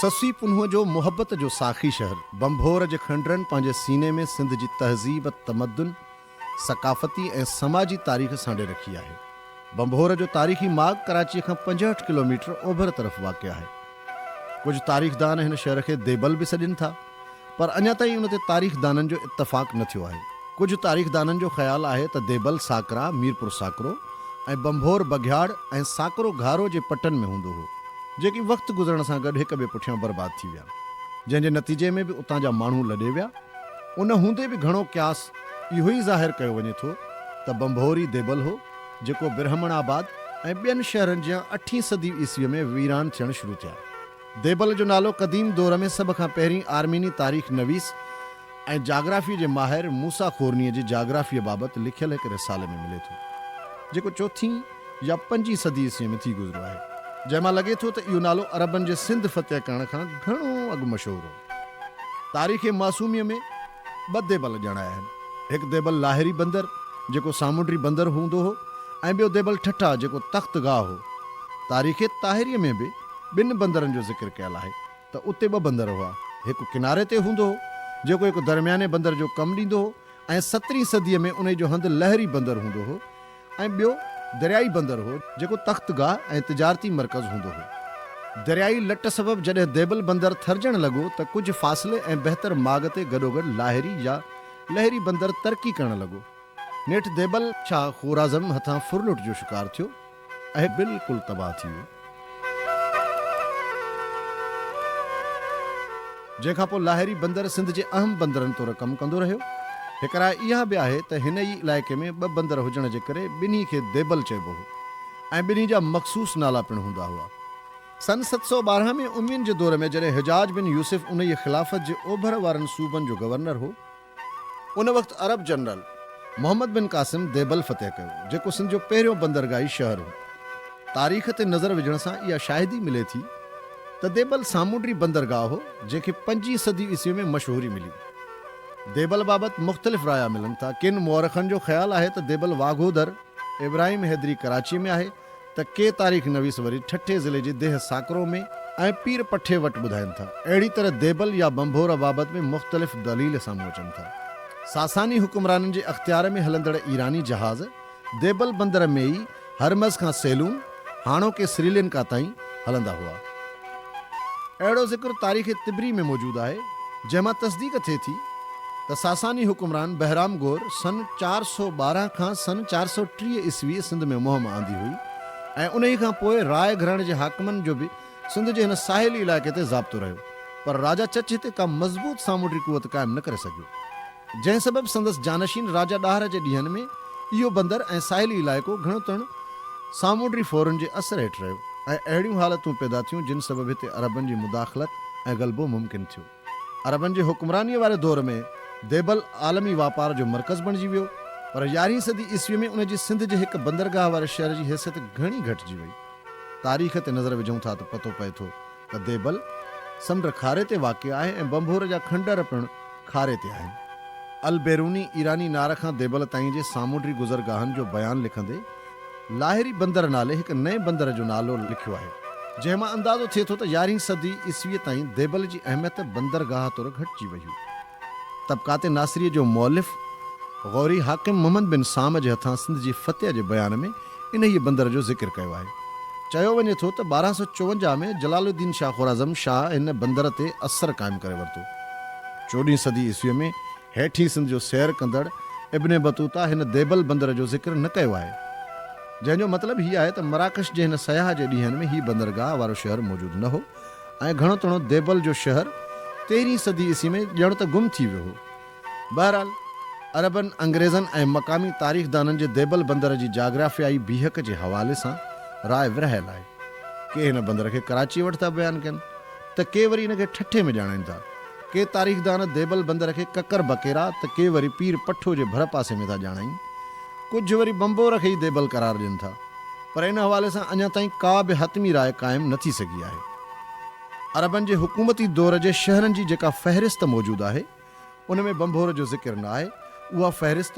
سسئي پنهونء جو محبت جو ساقي شهر بنڀور جي کنڊرن پنهنجي سيني ۾ سنڌ جي تهذيب، تمدن، ثقافتي ۽ سماجي تاريخ سانڍي رکي آهي. ڀنڀور جو تاريخي ماڳ ڪراچيء کان پنجهٺ ڪلوميٽر اوڀر طرف واقع آهي. ڪجهه تاريخدان هن شهر کي ديبل به سڏين ٿا، پر اڃا تائين ان تي تاريخدانن جو اتفاق نه ٿيو آهي. ڪجهه تاريخدانن جو خيال آهي ته ديبل ساڪرا، ميرپور ساڪرو ۽ ڀنڀور بگهياڙ ۽ ساڪرو گهارو جي پٽن ۾ هوندو هو، جيڪي وقت گذرڻ سان گڏ هڪ ٻئي پٺيان برباد ٿي ويا، جنهن جي نتيجي ۾ به اتان جا ماڻهو لڏي ويا. ان هوندي به گهڻو قياس اهو ئي ظاهر ڪيو وڃي ٿو ته ڀنڀوري ديبل هو، جيڪو برهمڻ آباد ۽ ٻين شهرن جيان اٺين صدي عيسويء ۾ ويران ٿيڻ شروع ٿيا. ديبل جو نالو قديم دور ۾ سڀ کان پهرين آرميني تاريخ نويس ۽ جاگرافيء جي ماهر موسيٰ خورنيء جي جاگرافيء بابت لکيل هڪ رسالي ۾ ملي ٿو، جيڪو چوٿين يا پنجين صدي عيسويء ۾ ٿي گذريو آهي، جنهن مان لڳي ٿو ته اهو نالو عربن جي سنڌ فتح ڪرڻ کان گهڻو اڳ مشهور هو. تاريخ معصوميء ۾ ٻه ديبل ڄڻايا آهن. هڪ ديبل لاهري بندر جيڪو سامونڊي بندر هوندو هو ۽ ٻيو ديبل ٺٽا جيڪو تخت گاهه هو. تاريخ طاهريء ۾ به ٻن بندرن جو ذڪر ڪيل آهي ته اتي ٻه بندر هئا. هڪ ڪناري تي هوندو هو جيڪو هڪ درمياني بندر جو ڪم ڏيندو هو ۽ سترهين صديء ۾ انهي جو هنڌ لهري بندر هوندو هو. ۽ ٻيو دريائي بندر هو، جيڪو تخت گاهه ۽ تجارتي مرڪز هوندو هو. دريائي لٽ سبب جڏهن ديبل بندر ٿرجڻ لڳو ته ڪجهه فاصلي ۽ بهتر ماڳ تي گڏوگڏ لاهري يا لهري بندر ترقي ڪرڻ لڳو. نيٺ ديبل شاهه خوارزم هٿان ڦرلٽ جو شڪار ٿيو ۽ بلڪل تباهه ٿي ويو. جنهن کان پوء لاهري بندر سنڌ جي اهم بندرن طور ڪم ڪندو رهيو. هڪ راء اها به آهي ته هن ئي علائقي ۾ ٻه بندر هجڻ جي ڪري ٻنهي کي ديبل چئبو هو ۽ ٻنهي جا مخصوص نالا پڻ هوندا هئا. سن ست سؤ ٻارهن ۾ اموين جي دور ۾ جڏهن حجاج بن يوسف انهيء خلافت جي اوڀر وارن صوبن جو گورنر هو، ان وقت Arab general Muhammad bin Qasim Debal فتح ڪيو، جيڪو سنڌ جو پهريون بندرگاهي شهر هو. تاريخ تي نظر وجهڻ سان اها شاهدي ملي ٿي ته ديبل سامونڊي بندرگاهه هو، جنهن کي پنجين صدي عيسوي ۾ مشهوري ملي. ديبل بابت مختلف رايا ملن ٿا. ڪن مؤرخن جو خيال آهي ته ديبل واگهو در ابراهيم حيدري ڪراچيء ۾ آهي. ته ڪي تاريخ نويس وري ٺٽي ضلعي جي ديهه ساڪرو ۾ ۽ پير پٺي وٽ ٻڌائين ٿا. اهڙي طرح ديبل يا ڀنڀور بابت به مختلف دليل سامهون اچن ٿا. ساساني حڪمرانن جي اختيار ۾ هلندڙ ايراني جهاز ديبل بندر ۾ ئي هرمز کان سيلون، هاڻوڪي سريلنڪا، تائين هلندا هئا. اهڙو ذڪر تاريخ طبري ۾ موجود آهي، جنهن مان تصديق ٿئي ٿي ته ساساني حڪمران بهرام گور سن چار سؤ ٻارهن کان سن چار سؤ ٽيهه عيسويء سنڌ ۾ مهم آندي هئي ۽ انهيء کان پوء راء گهراڻي جي حاڪمن جو به سنڌ جي هن ساحلي علائقي تي ضابطو رهيو، پر راجا چچ هتي ڪا مضبوط سامونڊي قوت قائم نه ڪري سگهيو. جنهن سبب سندس جانشين راجا ڏاهر جي ڏينهن ۾ اهو بندر ۽ ساحلي علائقو گهڻو تڻ سامونڊري ڦورن جي اثر هيٺ رهيو ۽ اهڙيون حالتون پيدا ٿيون جن سبب هتي عربن جي مداخلت ۽ غلبو ممڪن ٿيو. عربن جي حڪمرانيء واري دور ۾ ديبل عالمي واپار جو مرڪز بڻجي ويو پر يارهين صدي عيسوي ۾ ان جي سنڌ جي هڪ بندرگاهه واري شهر جي حيثيت گهڻي گهٽجي وئي. تاريخ تي نظر وجهون ٿا ته پتو پئي ٿو ته ديبل سمنڊ کاري تي واقع آهي ۽ بنڀور جا کنڊر پڻ کاري تي آهن. البيروني ايراني نار کان ديبل تائين جي سامونڊي گذرگاهن جو بيان لکندي لاهري بندر نالي هڪ نئين بندر جو نالو لکيو آهي، جنهن مان اندازو ٿئي ٿو ته يارهين صدي عيسويء تائين ديبل جي اهميت بندرگاهه طور گهٽجي وئي هئي. طبقات ناصريء جو مؤلف غوري حاڪم محمد بن سام جي هٿان سنڌ جي فتح جي بيان ۾ انهيء بندر جو ذڪر ڪيو آهي. چيو وڃي ٿو ته ٻارهن سؤ چوونجاهه ۾ جلال الدين شاهه خوارزم شاهه هن بندر تي اثر قائم ڪري ورتو. چوڏهين صدي عيسويء ۾ هيٺين سنڌ جو سير ڪندڙ ابن بطوطه هن ديبل بندر جو ذڪر نه ڪيو آهي. جنهن جو مطلب هي آهي ته مراڪش جي هن سياح جي ڏينهن ۾ هي بندرگاهه وارو شهر موجود نه هو ۽ گهڻو تڻو ديبل جو شهر تيرهين صدي عيسوي ۾ ڄڻ ته گم ٿي ويو هو. بهرحال، عربن، انگريزن ۽ مقامي تاريخدانن جي ديبل بندر جي جاگرافيائي بيهڪ جي حوالي سان راء ورهايل آهي. ڪي هن بندر کي ڪراچيء وٽ ٿا بيان ڪن ته ڪي وري ان کي ٺٽي ۾ ڄاڻائين ٿا. ڪي تاريخدان ديبل بندر کي ڪڪر بڪيرا ته ڪي وري پير پٺو جي ڀرپاسي ۾ ٿا ڄاڻائين. ڪجهه وري بمبور کي ئي ديبل قرار ڏين ٿا. پر ان حوالي سان اڃا تائين ڪا به حتمي راء قائم نه ٿي سگهي آهي. عربن جي حڪومتي دور جي شهرن جي جيڪا فهرست موجود آهي، ان ۾ ڀنڀور جو ذڪر نه آهي. اها فهرست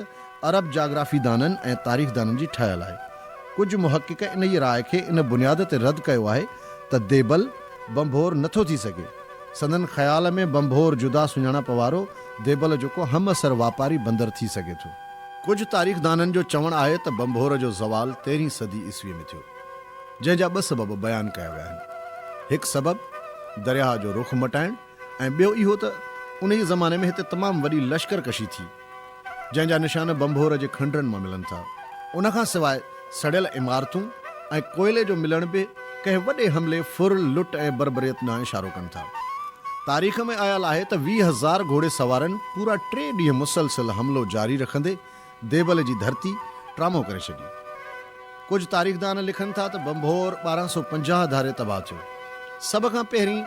عرب جاگرافيدانن ۽ تاريخدانن جي ٺهيل آهي. ڪجهه محقق انهيء راء کي ان بنياد تي رد ڪيو آهي ته ديبل ڀنڀور نه ٿو ٿي سگهي. سندن خيال ۾ ڀنڀور جدا سڃاڻپ وارو ديبل جو ڪو همعصر واپاري بندر ٿي سگهي ٿو. ڪجهه تاريخدانن جو چوڻ آهي ته ڀنڀور جو زوال تيرهين صدي عيسويء ۾ ٿيو، جنهن جا ٻه سبب بيان ڪيا ويا آهن. هڪ سبب درياهه جو رخ مٽائڻ، ۽ ٻيو اهو ته انهيء زماني ۾ هتي تمام وڏي لشڪر ڪشي ٿي، جنهن جا نشان ڀنڀور جي کنڊرن مان ملن ٿا. ان کان سواء سڙيل عمارتون ۽ ڪوئلي جو ملڻ به ڪنهن وڏي حملي، ڦر، لٽ ۽ بربريت ڏانهن اشارو ڪن ٿا. تاريخ ۾ آيل آهي ته ويهه هزار گهوڙي سوارن پورا ٽي ڏينهن مسلسل حملو جاري رکندي ديبل جي ڌرتي ٽرامو ڪري ڇڏي. ڪجهه تاريخدان لکن ٿا ته ڀنڀور ٻارهن سؤ پنجاهه ڌاري تباهه ٿيو. سڀ کان پهرين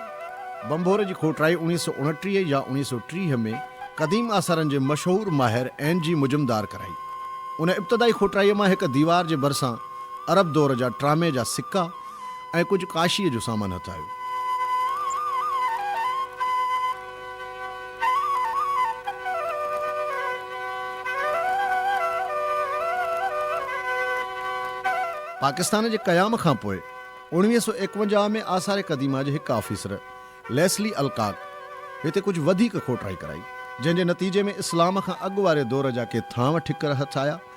ڀنڀور جي کوٽرائي اوڻيهه سؤ اڻٽيهه يا اوڻيهه سؤ ٽيهه ۾ قديم آثارن جي مشهور ماهر اين جي مجمدار ڪرائي. ان ابتدائي کوٽرائيء مان هڪ ديوار جي ڀرسان عرب دور جا ٽرامي جا سڪا ۽ ڪجهه ڪاشيء جو سامان هٿ آيو. پاڪستان جي قيام کان پوء اوڻويهه سؤ ايڪونجاهه ۾ آثار قديمه جي هڪ آفيسر ليسلي الڪاڪ هتي ڪجهه وڌيڪ کوٽرائي ڪرائي، جنهن جي نتيجي ۾ اسلام کان اڳ واري دور جا ڪي ٿانو ٺڪر هٿ آيا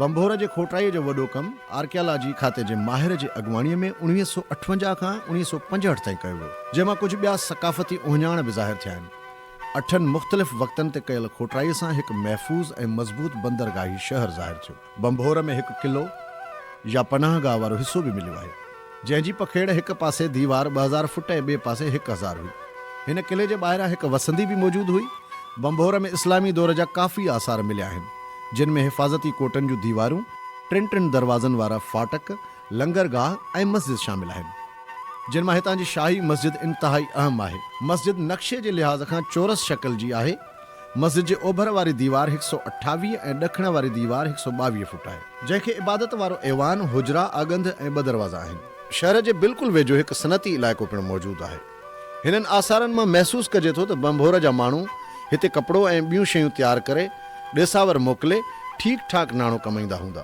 ڀنڀور جي کوٽائيء جو وڏو ڪم آرڪيالاجي کاتي جي ماهر جي اڳواڻيء ۾ اڻويهه سؤ اٺونجاهه کان اڻويهه سؤ پنجهٺ تائين ڪيو ويو، جنهن مان ڪجهه ٻيا ثقافتي اهڃاڻ به ظاهر ٿيا آهن. اٺن مختلف وقتن تي ڪيل کوٽرائيء سان هڪ محفوظ ۽ مضبوط بندرگاهي شهر ظاهر ٿيو. ڀنڀور ۾ هڪ قلعو يا پناهه گاهه وارو حصو به مليو آهي، جنهن جي پکيڙ هڪ پاسي ديوار ٻه هزار فٽ ۽ ٻئي پاسي هڪ هزار هئي. هن قلعي جي ٻاهران هڪ وسندي به موجود هئي. ڀنڀور ۾ اسلامي دور جا ڪافي آثار مليا آهن، جن ۾ حفاظتي ڪوٽن جون ديوارون، ٽن ٽن دروازن وارا فاٽڪ، لنگر گاهه ۽ مسجد شامل آهن، جن مان هتان جي شاهي مسجد انتهائي اهم آهي. مسجد نقشي جي لحاظ کان چورس شڪل جي آهي. مسجد جي اوڀر واري ديوار هڪ سؤ اٺاويهه ۽ ڏکڻ واري ديوار هڪ سؤ ٻاويهه فوٽ آهي، جنهن کي عبادت وارو ايوان، حجرا، اڳنڌ ۽ ٻه دروازا آهن. شهر جي بلڪل ويجهو هڪ صنعتي علائقو پڻ موجود آهي. هنن آثارن مان محسوس ڪجي ٿو ته ڀنڀور جا ماڻهو هتي ڪپڙو ۽ ٻيون شيون تيار ڪري ڏيساور موڪلي ٺيڪ ٺاڪ ناڻو ڪمائيندا هوندا.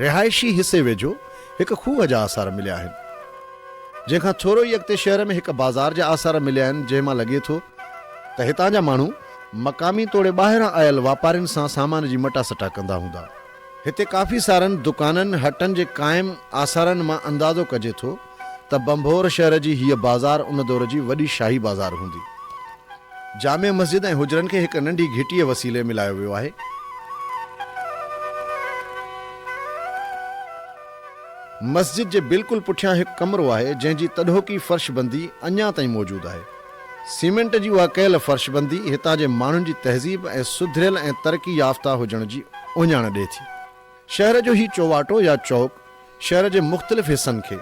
رهائشي حصي ويجهو هڪ کوهه جا آثار مليا آهن، جنهن کان ٿورو ئي اڳتي شهر ۾ هڪ بازار جا آثار مليا آهن، جنهن مان لڳي ٿو ته هتان جا ماڻهو مقامي توڙي ٻاهران آيل واپارين سان سامان جي مٽا سٽا ڪندا هوندا. هتي ڪافي سارن دڪانن، هٽن جي قائم آثارن مان اندازو ڪجي ٿو، ته ڀنڀور شهر جي هيء بازار ان دور جي وڏي شاهي بازار هوندي. جامع مسجد ۽ حجرن کي هڪ ننڍي گهٽيء وسيلي ملايو ويو آهي. مسجد جي بلڪل پٺيان هڪ ڪمرو آهي، جنهن جي تڏهوڪي فرش بندي اڃا تائين موجود آهي. سيمنٽ جي اها ڪيل فرش بندي هتان جي ماڻهن جي تهذيب ۽ سڌريل ۽ ترقي يافته هجڻ جي اهڃاڻ ڏئي ٿي. شهر جو هي چوواٽو يا چوڪ شهر جي مختلف حصن کي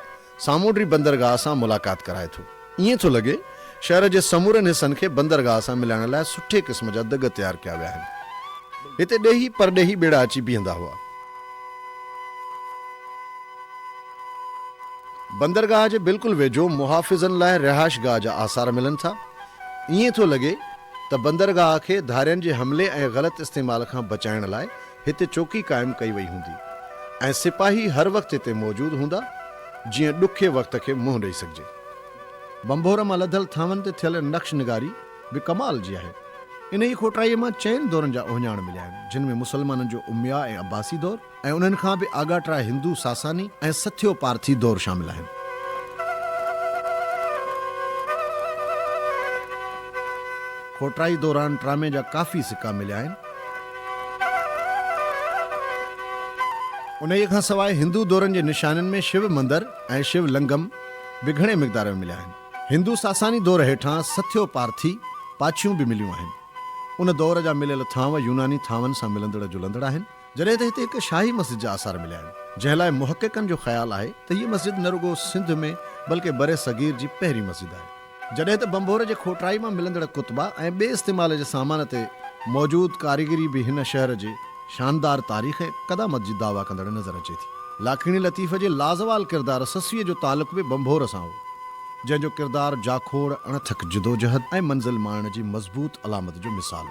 سامونڊي بندرگاهه سان ملاقات ڪرائي ٿو. ائين ٿو لڳي شهر جي سمورن حصن کي بندرگاهه سان ملائڻ لاء سٺي قسم جا دڳ تيار ڪيا ويا آهن. هتي ڏيهي پرڏيهي ٻيڙا اچي بيهندا هئا. بندرگاهه جي بلڪل ويجهو محافظن لاء رهائش گاهه جا آثار ملن ٿا. ائين ٿو لڳي ته بندرگاهه کي ڌارين جي حملي ۽ غلط استعمال کان بچائڻ لاء هتي چوڪي قائم ڪئي وئي هوندي ۽ سپاهي هر وقت هتي موجود هوندا جيئن ڏکي وقت کي منهن ڏئي سگهجي. بنڀور مان لڌل ٿانون تي ٿيل نقش نگاري به ڪمال جي آهي. انهيء کوٽائيء مان چئن دورن جا اهڃاڻ مليا آهن، جن ۾ مسلمانن جو امويا ۽ عباسي دور ۽ انهن کان به آڳاٽا هندو ساساني ۽ سٿيو پارٿي دور شامل آهن. کوٽائي دوران ٽرامي جا ڪافي سڪا مليا آهن. انهيء کان سواء هندو دورن جي نشانين ۾ شو مندر ۽ شو لنگم به گهڻي مقدار ۾ مليا آهن. هندو ساساني دور هيٺان سٿيو پارٿي پاڇيون به مليون آهن. ان دور جا مليل ٿانو يوناني ٿانون سان ملندڙ جلندڙ آهن. جڏهن ته هتي هڪ شاهي مسجد جا آثار مليا آهن، جنهن لاء محققن جو خيال آهي ته هيء مسجد نه رڳو سنڌ ۾ بلڪه برصغير جي پهرين مسجد آهي. جڏهن ته ڀنڀور جي کوٽرائي مان ملندڙ ڪتبا ۽ ٻئي استعمال جي سامان تي موجود ڪاريگري به هن شهر جي شاندار تاريخ ۽ قدامت جي دعويٰ ڪندڙ نظر اچي ٿي. لاکيڻي لطيف جي لازوال ڪردار سسئي جو تعلق به ڀنڀور سان هو، جنهن جو ڪردار جاکوڙ، اڻٿڪ جدوجهد ۽ منزل ماڻڻ جي مضبوط علامت جو مثال هو.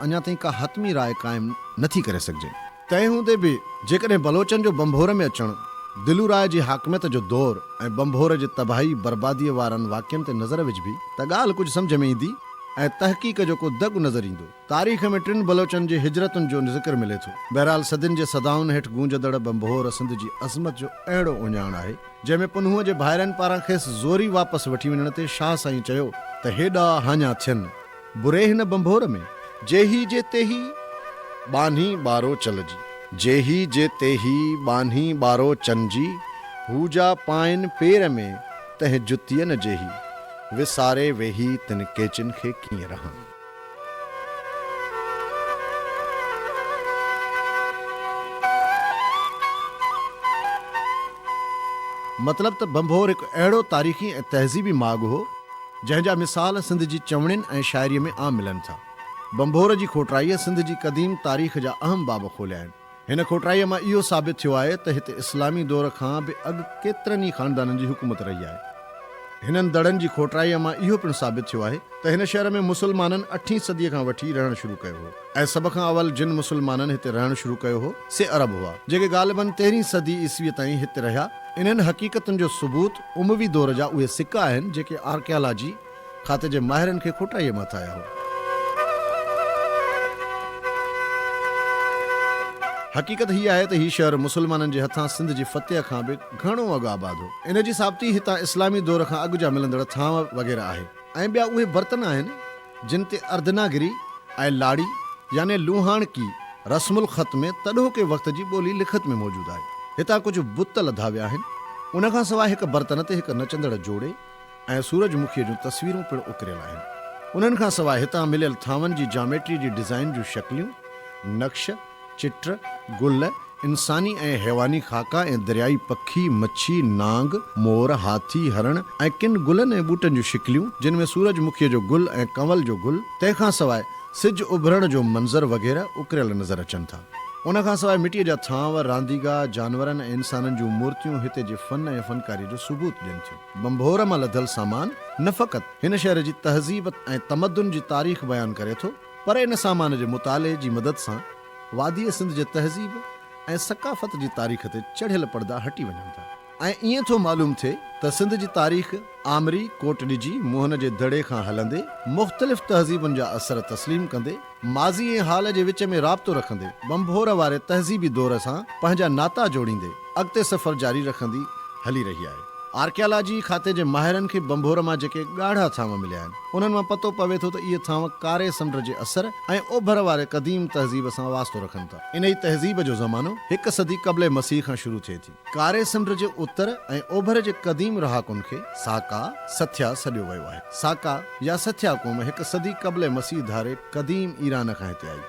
اڃا تائين ڪا حتمي راء قائم نه ٿي ڪري سگهجي. تنهن هوندي به جيڪڏهن بلوچن جو بنڀور ۾ اچڻ، دلو راء جي حاڪميت جو دور ۽ بنڀور جي تباهي برباديء وارن واقعن تي نظر وجهبي ته ڳالهه ڪجهه سمجهه ۾ ايندي ۽ تحقيق جو ڪو دڳ نظر ايندو. تاريخ ۾ ٽن بلوچن جي هجرتن جو ذڪر ملي ٿو. بهرحال صدين جي صدائن هيٺ گونجندڙ بنڀور سنڌ جي عظمت جو اهڙو اهڃاڻ آهي، جنهن ۾ پنهونء جي ڀائرن پاران کيس زوري واپس وٺي وڃڻ تي شاهه سائينء چيو ته هيڏا هاڃا ٿين، بري هن ڀنڀور ۾، جي هي جي تيهي، ٻانهي ٻارو چل جي. جي هي جي تيهي، ٻانهي ٻارو چن جي. هو جا پائين پير ۾، تنهن جتين جيهي. وساري ويهي، تن ڪيچين کي ڪيئن رهان. مطلب ته ڀنڀور هڪ اهڙو تاريخي ۽ تهذيبي ماڳ هو، جنهن جا مثال سنڌ جي چوڻين ۽ شاعريء ۾ عام ملن ٿا. ڀنڀور جي کوٽرائيء سنڌ جي قديم تاريخ جا اهم باب کوليا آهن. هن کوٽرائيء مان اهو ثابت ٿيو آهي ته هتي اسلامي دور کان به اڳ ڪيترن ئي خاندانن جي حڪومت رهي آهي. هنن دڙن جي کوٽرائيء مان اهو پڻ ثابت ٿيو آهي ته هن شهر ۾ مسلمانن اٺين صديء کان وٺي رهڻ شروع ڪيو هو. ۽ سڀ کان اول جن مسلمانن هتي رهڻ شروع ڪيو هو، سي عرب هئا، جيڪي غالباً تيرهين صدي عيسويء تائين هتي رهيا. انهن حقيقتن جو ثبوت اموي دور جا اهي سڪا آهن، جيڪي آرڪيالاجي کاتي جي ماهرن کي کوٽائيء مان هٿ آيا هئا. حقيقت هيء آهي ته هي شهر مسلمانن جي هٿان سنڌ جي فتح کان به گهڻو اڳ آباد هو. ان جي ثابتي هتان اسلامي دور کان اڳ جا ملندڙ ٿانء وغيره آهي ۽ ٻيا اهي برتن آهن، جن تي اردناگري ۽ لاڙي يعني لوهاڻڪي رسم الخط ۾ تڏهوڪي وقت جي ٻولي لکت ۾ موجود آهي. هتان ڪجهه بت لڌا ويا آهن. ان کان سواء هڪ برتن تي هڪ نچندڙ جوڙي ۽ سورج مکيء جون تصويرون پڻ اڪريل آهن. انهن کان سواء هتان مليل ٿانون جي جاميٽري جي ڊزائين جون شڪليون، نقش، چٽ، گل، انساني ۽ حيواني خاڪا ۽ دريائي پکي، مڇي، نانگ، مور، هاٿي، هرڻ ۽ ڪن گلن ۽ ٻوٽن جون شڪليون، جن ۾ سورج مکيء جو گل ۽ ڪنول جو گل، تنهن کان سواء سج اڀرڻ جو منظر وغيره اڪريل نظر اچن ٿا. ان کان سواء مٽيء جا ٿانو، رانديگاهه، جانورن ۽ انسانن جون مورتيون هتي جي فن ۽ فنڪاريء جو ثبوت ڏين ٿيون. ڀنڀور مان لڌل سامان نه فقط هن شهر جي تهذيب ۽ تمدن جي تاريخ بيان ڪري ٿو، پر ان سامان جي مطالعي جي مدد سان واديء سنڌ جي تهذيب ۽ ثقافت جي تاريخ تي چڙهيل پڙدا هٽي وڃن ٿا ۽ ائين ٿو معلوم ٿئي ته سنڌ جي تاريخ آمري ڪوٽ ڏجي موهن جي دڙي کان هلندي مختلف تهذيبن جا اثر تسليم ڪندي ماضي ۽ حال جي وچ ۾ رابطو رکندي ٻنڀور واري تهذيبي دور سان پنهنجا ناتا جوڙيندي اڳتي سفر جاري رکندي هلي رهي آهي. آرڪيالاجي کاتي جي ماهرن کي بنڀور مان جيڪي ڳاڙها ٿانو مليا آهن، انهن مان پتو پوي ٿو ته اهي ٿانو ڪاري سمنڊ جي اثر ۽ اوڀر واري قديم تهذيب سان واسطو رکن ٿا. انهي تهذيب جو زمانو هڪ صدي قبل مسيح کان شروع ٿئي ٿي. ڪاري سمنڊ جي اتر ۽ اوڀر جي قديم رهاڪن کي ساڪا، سٿيا، سڏيو ويو آهي. ساڪا يا سٿيا قوم هڪ صدي قبل مسيح ڌاري قديم ايران کان هتي آئي.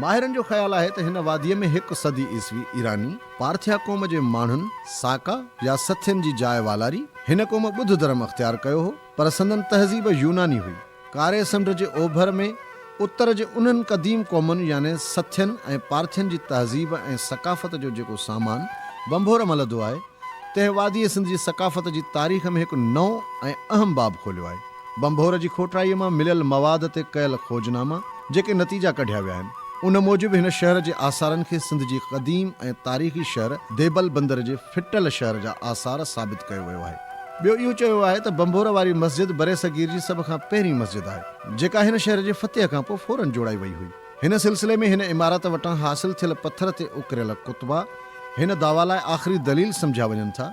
ماهرن جو خيال آهي ته هن واديء ۾ هڪ صدي عيسوي ايراني، پارٿيا قوم جي ماڻهن ساڪا يا سٿين جي جاء والاري. هن قوم ٻڌ ڌرم اختيار ڪيو هو، پر سندن تهذيب يوناني هئي. ڪاري سمنڊ جي اوڀر ۾ اتر جي انهن قديم قومن يعني سٿين ۽ پارٿين جي تهذيب ۽ ثقافت جو جيڪو سامان ڀنڀور ملدو آهي، تنهن واديء سنڌ جي ثقافت جي تاريخ ۾ هڪ نئون ۽ اهم باب کوليو آهي. ڀنڀور جي کوٽرائيء مان مليل مواد تي ڪيل کوجناما جيڪي نتيجا ڪڍيا ويا آهن، ان موجب هن شهر جي آثارن کي سنڌ جي قديم ۽ تاريخي شهر ديبل بندر جي ڦٽل شهر جا آثار ثابت ڪيو ويو آهي. ٻيو اهو چيو ويو آهي ته ڀنڀور واري مسجد برصغير جي سڀ کان پهرين مسجد آهي، جيڪا هن شهر جي فتح کان پوء فوراً جوڙائي وئي هئي. هن سلسلي ۾ هن عمارت وٽان حاصل ٿيل پٿر تي اڪريل ڪتبا هن دعويٰ لاء آخري دليل سمجهيا وڃن ٿا.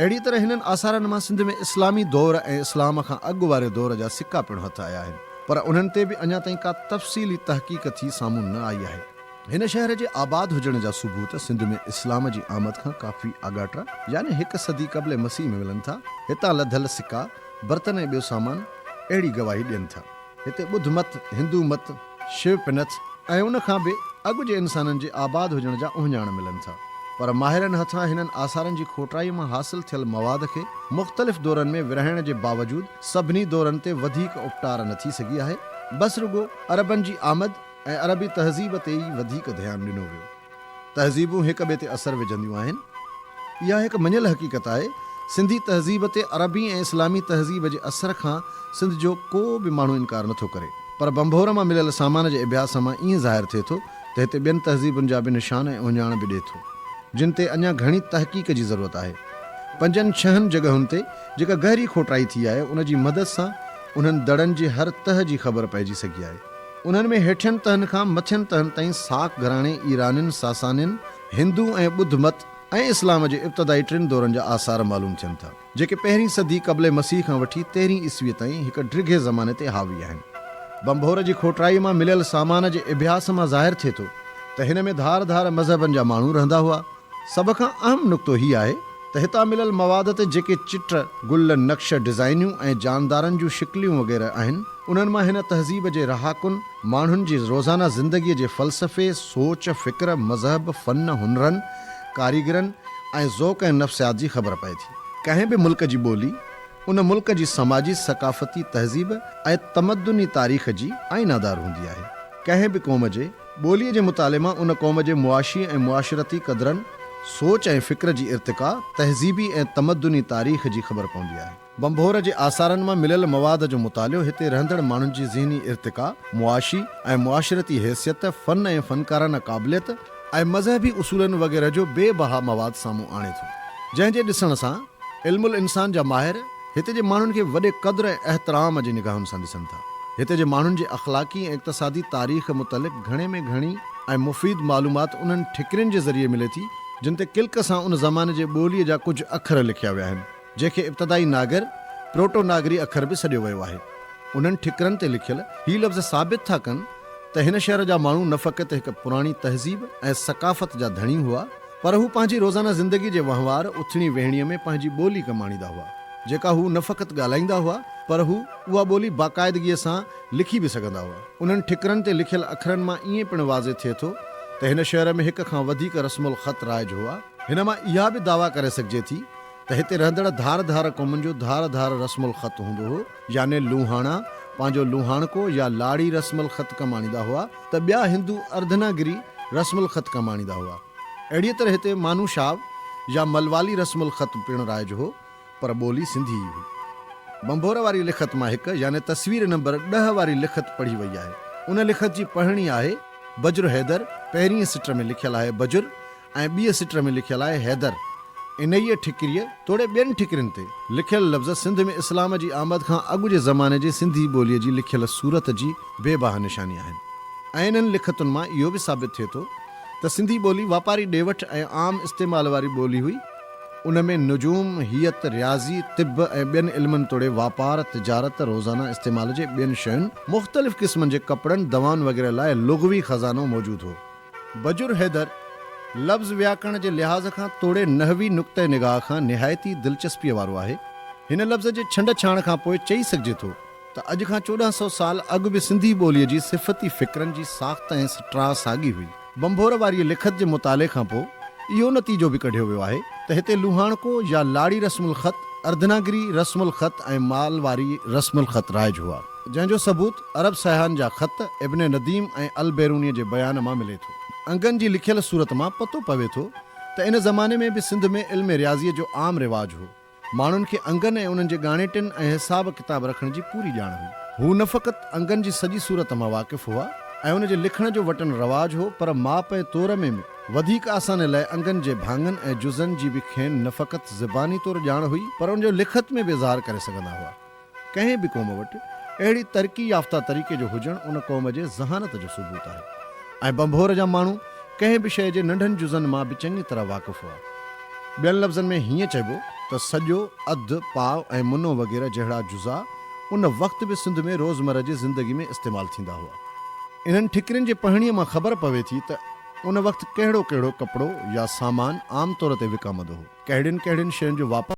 اهڙيء طرح هنن آثارن مان سنڌ ۾ اسلامي دور ۽ اسلام کان اڳ واري دور جا سڪا پڻ هٿ آيا آهن، پر انهن تي به اڃا تائين ڪا تفصيلي تحقيق ٿي سامهون نه آئي آهي. هن شهر جي آباد هجڻ جا ثبوت سنڌ ۾ اسلام جي آمد کان ڪافي آڳاٽا يعني هڪ صدي قبل مسيح ۾ ملن ٿا. هتان لڌل سڪا، برتن ۽ ٻيو سامان اهڙي گواهي ڏين ٿا. هتي ٻڌ مت، هندو مت، شيو پنٿ ۽ ان کان به اڳ جي انسانن جي آباد هجڻ جا اهڃاڻ ملن ٿا. پر ماهرن هٿان هنن آثارن جي کوٽائيء مان حاصل ٿيل مواد کي مختلف دورن ۾ ورهائڻ جي باوجود سڀني دورن تي وڌيڪ اپٽار نه ٿي سگهي آهي، بس رڳو عربن جي آمد ۽ عربي تهذيب تي ئي وڌيڪ ڌيان ڏنو ويو. تهذيبون هڪ ٻئي تي اثر وجهنديون آهن. اها هڪ مڃيل حقيقت آهي. سنڌي تهذيب تي عربي ۽ اسلامي تهذيب جي اثر کان سنڌ جو ڪو به ماڻهو انڪار نه ٿو ڪري. پر بنڀور مان مليل سامان جي اڀياس مان ائين ظاهر ٿئي ٿو ته هتي ٻين تهذيبن جا به نشان ۽ اهڃاڻ به ڏئي ٿو. جن تي اڃا گهڻي تحقيق جي ضرورت آهي. پنجن ڇهن جڳهن تي جيڪا گهري کوٽائي ٿي آهي ان جي مدد سان انهن دڙن جي هر تهه جي خبر پئجي سگهي آهي. انهن ۾ هيٺين تهن کان مٿين تهن تائين ساڪ گهراڻي، ايرانين، ساسانين، هندو ۽ ٻڌ مت ۽ اسلام جي ابتدائي ٽن دورن جا آثار معلوم ٿين ٿا، جيڪي پهرين صدي قبل مسيح کان وٺي تيرهين عيسويء تائين هڪ ڊگهي زماني تي حاوي آهن. ڀنڀور جي کوٽرائيء مان مليل سامان جي اڀياس مان ظاهر ٿئي ٿو ته هن ۾ ڌار ڌار مذهبن جا ماڻهو رهندا هئا. سڀ کان اهم نقطو هي آهي ته هتان مليل مواد تي جيڪي چٽ، گل، نقش، ڊزائنيون ۽ جاندارن جون شڪليون وغيره آهن، انهن مان هن تهذيب جي رهاڪن، ماڻهن جي روزانه زندگيء جي فلسفي، سوچ، فڪر، مذهب، فن، هنرن، ڪاريگرن ۽ ذوق ۽ نفسيات جي خبر پئي ٿي. ڪنهن به ملڪ جي ٻولي، ان ملڪ جي سماجي، ثقافتي، تهذيب ۽ تمدني تاريخ جي آئينه دار هوندي آهي. ڪنهن به قوم جي ٻوليء جي مطالعي مان ان قوم جي معاشي ۽ معاشرتي قدرن، سوچ ۽ فڪر جي ارتقا، تهذيبي ۽ تمدني تاريخ جي خبر پوندي آهي. ڀنڀور جي آثارن مان مليل مواد جو مطالعو هتي رهندڙ ماڻهن جي ذهني ارتقا، معاشي ۽ معاشرتي حيثيت، فن ۽ فنڪارانه قابليت، ۽ مذهبي اصولن وغيره جو بي بها مواد سامهون آڻي ٿو، جنهن جي ڏسڻ سان علم الانسان جا ماهر، هتي جي ماڻهن کي وڏي قدر ۽ احترام جي نگاهن سان ڏسن ٿا. هتي جي ماڻهن جي اخلاقي ۽ اقتصادي تاريخ متعلق گهڻي ۾ گهڻي ۽ مفيد معلومات انهن ٺڪرين جي ذريعي ملي ٿي، جن تي ڪلڪ سان ان زماني جي ٻوليء جا ڪجهه اکر لکيا ويا آهن، جنهن کي ابتدائي ناگر، پروٽو ناگري اکر، به سڏيو ويو آهي. انهن ٺڪرن تي لکيل هي لفظ ثابت ٿا ڪن ته هن شهر جا ماڻهو نه فقط هڪ پراڻي تهذيب ۽ ثقافت جا ڌڻي هئا، پر هو پنهنجي روزانه زندگي جي وهنوار اٿڻي ويهڻيء ۾ پنهنجي ٻولي ڪم آڻيندا هئا، جيڪا هو نه فقط ڳالهائيندا هئا، پر هو اها ٻولي باقاعدگيء سان لکي به سگهندا هئا. انهن ٺڪرن تي لکيل اکرن مان ائين پڻ واضح ٿئي ٿو ته هن شهر ۾ هڪ کان وڌيڪ رسم الخط رائج هئا. هن مان اها به دعويٰ ڪري سگهجي ٿي ته هتي رهندڙ ڌار ڌار قومن جو ڌار ڌار رسم الخط هوندو هو. يعني لوهاڻا پنهنجو لوهاڻڪو يا لاڙي رسم الخط ڪم آڻيندا هئا ته ٻيا هندو اردنا گري رسم الخط ڪم آڻيندا هئا. اهڙيء طرح هتي مانو شاو يا ملوالي رسم الخط پڻ رائج هو پر ٻولي سنڌي ئي هئي. ڀنڀور واري لکت مان هڪ يعني تصوير نمبر ڏهه واري لکت پڙهي وئي آهي. ان لکت جي پڙهڻي آهي، بجر حيدر پهرينء سٽر ۾ لکيل آهي بجر ۽ ٻيء سٽر ۾ لکيل آهي حيدر. انهيء ٺڪريء توڙي ٻين ٺڪرين تي لکيل لفظ سنڌ ۾ اسلام جي آمد کان اڳ جي زماني جي سنڌي ٻوليء جي لکيل صورت جي بي باه نشاني آهن ۽ انهن لکتن مان اهو به ثابت ٿئي ٿو ته سنڌي ٻولي واپاري ڏي وٺ ۽ عام استعمال واري ٻولي هئي، ان ۾ نجوم، هيئت، رياضي، طب ۽ ٻين علمن توڙي واپار، تجارت، روزانه استعمال جي ٻين شين، مختلف قسمن جي ڪپڙن، دوائن وغيره لاء لغوي خزانو موجود هو. بجر حيدر، لفظ وياڪرڻ جي لحاظ کان توڙي نحوي نقطه نگاهه کان نهايت ئي دلچسپيء وارو آهي. هن لفظ جي ڇنڊ ڇاڻ کان پوء چئي سگهجي ٿو ته اڄ کان چوڏهن سؤ سال اڳ به سنڌي ٻوليء جي صفتي فڪرن جي ساخت ۽ سٽراء ساڳي هئي. ڀنڀور واريء لکت جي مطالعي کان پوء اهو نتيجو به ڪڍيو ويو آهي ته هتي لوهاڻڪو يا لاڙي رسم الخط، اردناگري رسم الخط ۽ مالواري رسم الخط رائج هئا. جنهن جو ثبوت عرب سياحن جا خط ابن نديم ۽ البيرونيء جي بيان مان ملي ٿو. انگن جي لکيل صورت مان پتو پوي ٿو ته ان زماني ۾ به سنڌ ۾ علم رياضيء جو عام رواج هو. ماڻهن کي انگن ۽ انهن جي ڳاڻيٽن ۽ حساب ڪتاب رکڻ جي پوري ڄاڻ هئي. هو نه فقط انگن جي سڄي صورت مان واقف هئا ۽ ان جي لکڻ جو وٽن رواج هو پر ماپ ۽ تور ۾ به وڌيڪ آساني لاء انگن جي ڀاڱن ۽ جزن جي به کين نه فقط زباني طور ڄاڻ هئي پر ان جو لکت ۾ به اظهار ڪري سگهندا هئا. ڪنهن به قوم وٽ اهڙي ترقي يافته طريقي جو هجڻ ان قوم جي ذهانت جو ثبوت آهي ۽ ڀنڀور جا ماڻهو ڪنهن به شيء جي ننڍن جزن مان به چڱي طرح واقف هئا. ٻين لفظن ۾ هيئن چئبو ته سڄو، اڌ، پاء ۽ منو وغيره جهڙا جزا ان وقت به سنڌ ۾ روزمره جي زندگي ۾ استعمال ٿيندا هئا. انهن ٺڪرين جي پهڻيء مان خبر پوي ٿي ته ان وقت ڪهڙو ڪهڙو ڪپڙو يا سامان عام طور تي وڪامندو هو. ڪهڙين ڪهڙين شين جو واپار.